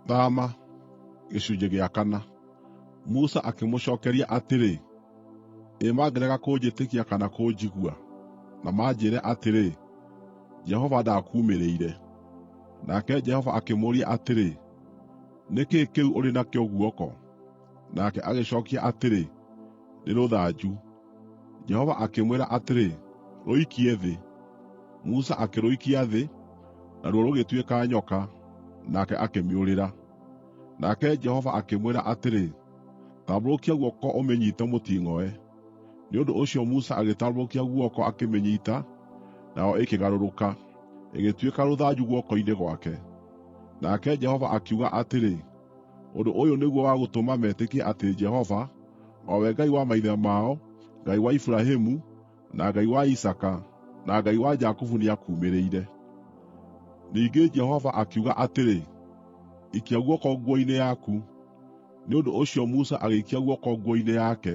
Thama. Gĩcunjĩ gĩa kana. Musa akĩmũcookeria atĩrĩ, “Ĩ mangĩrega kũnjĩtĩkia kana kũnjigua, na manjĩĩre atĩrĩ, ‘Jehova ndaakuumĩrĩire’?” Nake Jehova akĩmũũria atĩrĩ, “Nĩ kĩĩ kĩu ũrĩ nakĩo guoko?” Nake agĩcookia atĩrĩ, “Nĩ rũthanju.” Jehova akĩmwĩra atĩrĩ, “Rũikie thĩ.” Musa akĩrũikia thĩ, naruo rũgĩtuĩka nyoka, nake akĩmĩũrĩra. Nake Jehova akĩmwĩra atĩrĩ, “Tambũrũkia guoko ũmĩnyiite mũting'oe.” Nĩ ũndũ ũcio Musa agĩtambũrũkia guoko akĩmĩnyiita, nayo ĩkĩgarũrũka, ĩgĩtuĩka rũthanju guoko-inĩ gwake. Nake Jehova akiuga atĩrĩ, Ũndũ ũyũ nĩguo wa gũtũma metĩkie atĩ Jehova, o we Ngai wa maithe mao, Ngai wa Iburahĩmu, na Ngai wa Isaaka, na Ngai wa Jakubu nĩakuumĩrĩire.” Ningĩ Jehova akiuga atĩrĩ, “Ikia guoko nguo-inĩ yaku.” Nĩ ũndũ ũcio Musa agĩikia guoko nguo-inĩ yake,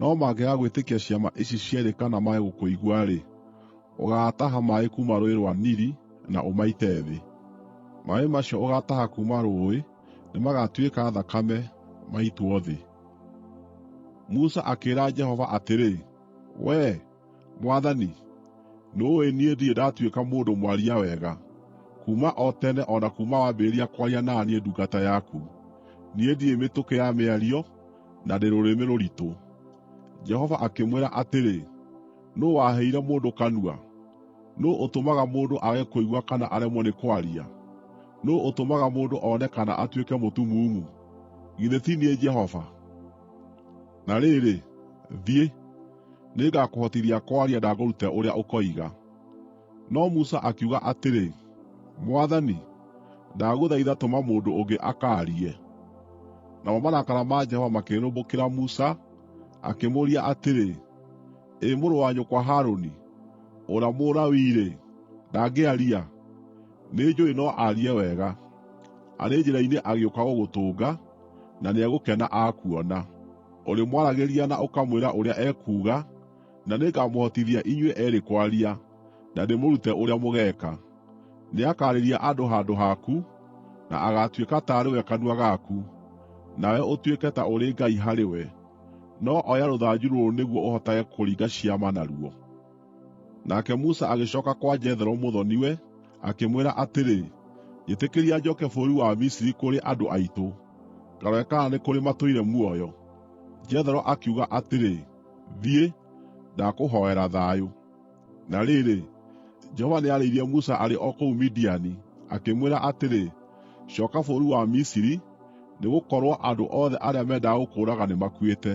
No mangĩaga gwĩtĩkia ciama ici cierĩ kana mage gũkũigua-rĩ, ũgaataha maaĩ kuuma Rũũĩ rwa Nili na ũmaite thĩ. Maaĩ macio ũgaataha kuuma rũũĩ nĩmagatuĩka thakame, maitwo thĩ.” Musa akĩĩra Jehova atĩrĩ, “Wee, “Mwathani, nĩũũĩ niĩ ndirĩ ndatuĩka mũndũ mwaria wega, kuuma o tene o na kuuma wambĩrĩria kwaria na niĩ ndungata yaku. Niĩ ndirĩ mĩtũkĩ ya mĩario, na ndĩ rũrĩmĩ rũritũ.” Jehova akĩmwĩra atĩrĩ, “Nũũ waheire mũndũ kanua? Nũũ ũtũmaga mũndũ aage kũigua kana aremwo nĩ kwaria? Nũũ ũtũmaga mũndũ one kana atuĩke mũtumumu? Githĩ ti niĩ Jehova? Na rĩrĩ, thiĩ! Nĩngakũhotithia kwaria na ngũrute ũrĩa ũkoiga.” No Musa akiuga atĩrĩ, “Mwathani, ndagũthaitha tũma mũndũ ũngĩ akaarie.” Namo marakara ma Jehova makĩrĩrĩmbũkĩra Musa, akĩmũũria atĩrĩ, “Ĩ mũrũ wa nyũkwa Harũni, ũrĩa Mũlawii-rĩ, ndangĩaria? Nĩnjũũĩ no aarie wega. Arĩ njĩra-inĩ agĩũka gũgũtũnga, na nĩegũkena akuona.” Ũrĩmwaragĩria na ũkamwĩra ũrĩa ekuuga, na nĩngamũhotithia inyuĩ eerĩ kwaria, na ndĩmũrute ũrĩa mũgeeka. Nĩakaarĩria andũ handũ haku, na agaatuĩka taarĩ we kanua gaku, nawe ũtuĩke ta ũrĩ Ngai harĩ we. No oya rũthanju rũrũ nĩguo ũhotage kũringa ciama naruo.” Nake Musa agĩcooka kwa Jethero mũthoni-we, akĩmwĩra atĩrĩ, “Njĩtĩkĩria njooke bũrũri wa Misiri kũrĩ andũ aitũ, ngarore kana nĩ kũrĩ matũire muoyo.” Jethero akiuga atĩrĩ, “Thiĩ, ndakũhoera thayũ.” Na rĩrĩ, Jehova nĩarĩirie Musa arĩ o kũu Midiani, akĩmwĩra atĩrĩ, “Cooka bũrũri wa Misiri, nĩgũkorwo andũ othe arĩa mendaga gũkũũraga nĩmakuĩte.”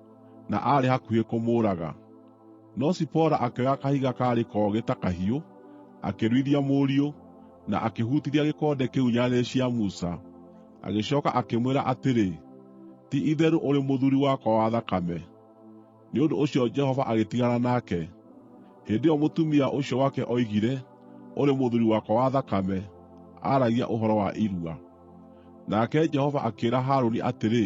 na aarĩ hakuhĩ kũmũũraga. No Zipora akĩoya kahiga kaarĩ kogĩ ta kahiũ, akĩruithia mũriũ, na akĩhutithia gĩkonde kĩu nyarĩrĩ cia Musa. Agĩcooka akĩmwĩra atĩrĩ, “Ti-itherũ ũrĩ mũthuuri wakwa wa thakame!” Nĩ ũndũ ũcio Jehova agĩtigana nake. Hĩndĩ ĩyo mũtumia ũcio wake oigire, “Ũrĩ mũthuuri wakwa wa thakame,” aaragia ũhoro wa irua. Nake Jehova akĩĩra Harũni atĩrĩ,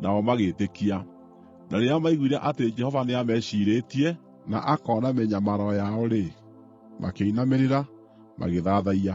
nao magĩĩtĩkia. Na rĩrĩa maaiguire atĩ Jehova nĩameciirĩtie na akoona mĩnyamaro yao-rĩ, makĩinamĩrĩra, magĩthathaiya.